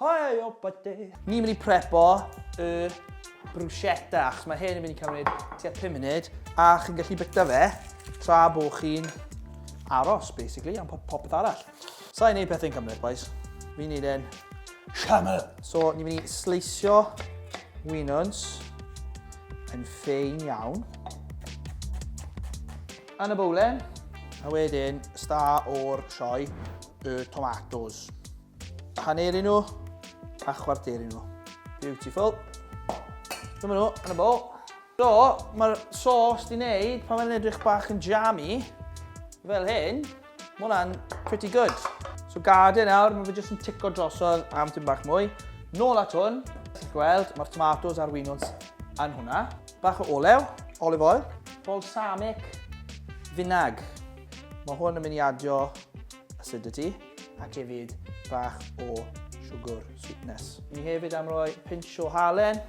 Hei o bydde! Ni'n mynd i prepo y bruschetta, achos mae hyn yn mynd i cymryd tua 5 munud, a chi'n gallu byta fe tra bo chi'n aros, basically, am popeth arall. Sa'n gwneud pethau'n cymryd, boys. Fi'n gwneud e'n siaml. So, ni'n mynd i sleisio winons yn ffein iawn. Yn y bowlen. A wedyn, sta o'r sioe, y tomatoes. Haneru nhw a chwarteru nhw. Beautiful. Dyma nhw, yn y bol. So, mae'r sauce di wneud pan mae'n edrych bach yn jammy, fel hyn, mae hwnna'n pretty good. So gade nawr, mae fe jyst yn tico drosodd am tyn bach mwy. Nôl at hwn, ti'n gweld, mae'r tomatoes a'r winons yn hwnna. Bach o olew, olive oil, balsamic, finag. Mae hwn yn mynd i adio acidity. ac hefyd bach o siwgr sweetness. Ni hefyd am roi pinch o halen,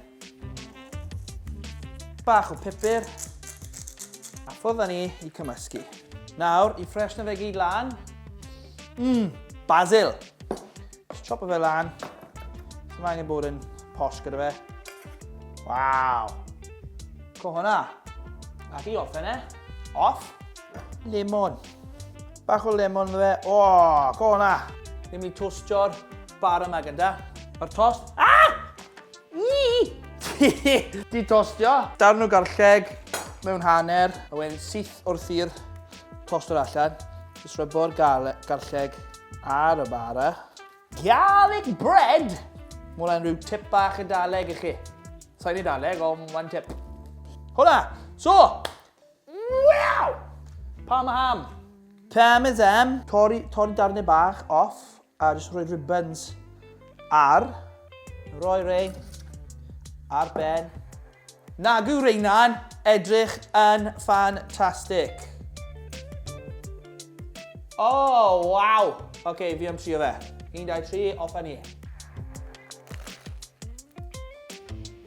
bach o pupur, a ffwrdd ni i cymysgu. Nawr, i ffres na fe gyd lan, mmm, basil! Just chop fe lan, sy'n angen bod yn posh gyda fe. Waw! Co hwnna! Ac i offer e, off, Lemon. Bach o lemon yna fe. O, go na! Ni'n mynd i tostio'r bar yma gyda. Mae'r tost... Ah! Di tostio. Darn o garlleg mewn hanner. A wedyn syth wrth i'r tost o'r allan. Jyst rhybo'r garlleg ar y bara. Garlic bread! Mae hwnna'n rhyw tip bach y daleg i chi. Sa'n ei daleg, ond mae'n tip. Hwna! So, Wow! Parma ham! Parmesan. Torri, torri darnau bach off a jyst rhoi ribbons ar. Rhoi rei ar ben. Nagu reina'n edrych yn ffantastig. O, oh, waw! Oce, okay, fi am trio fe. 1, 2, 3, off a ni.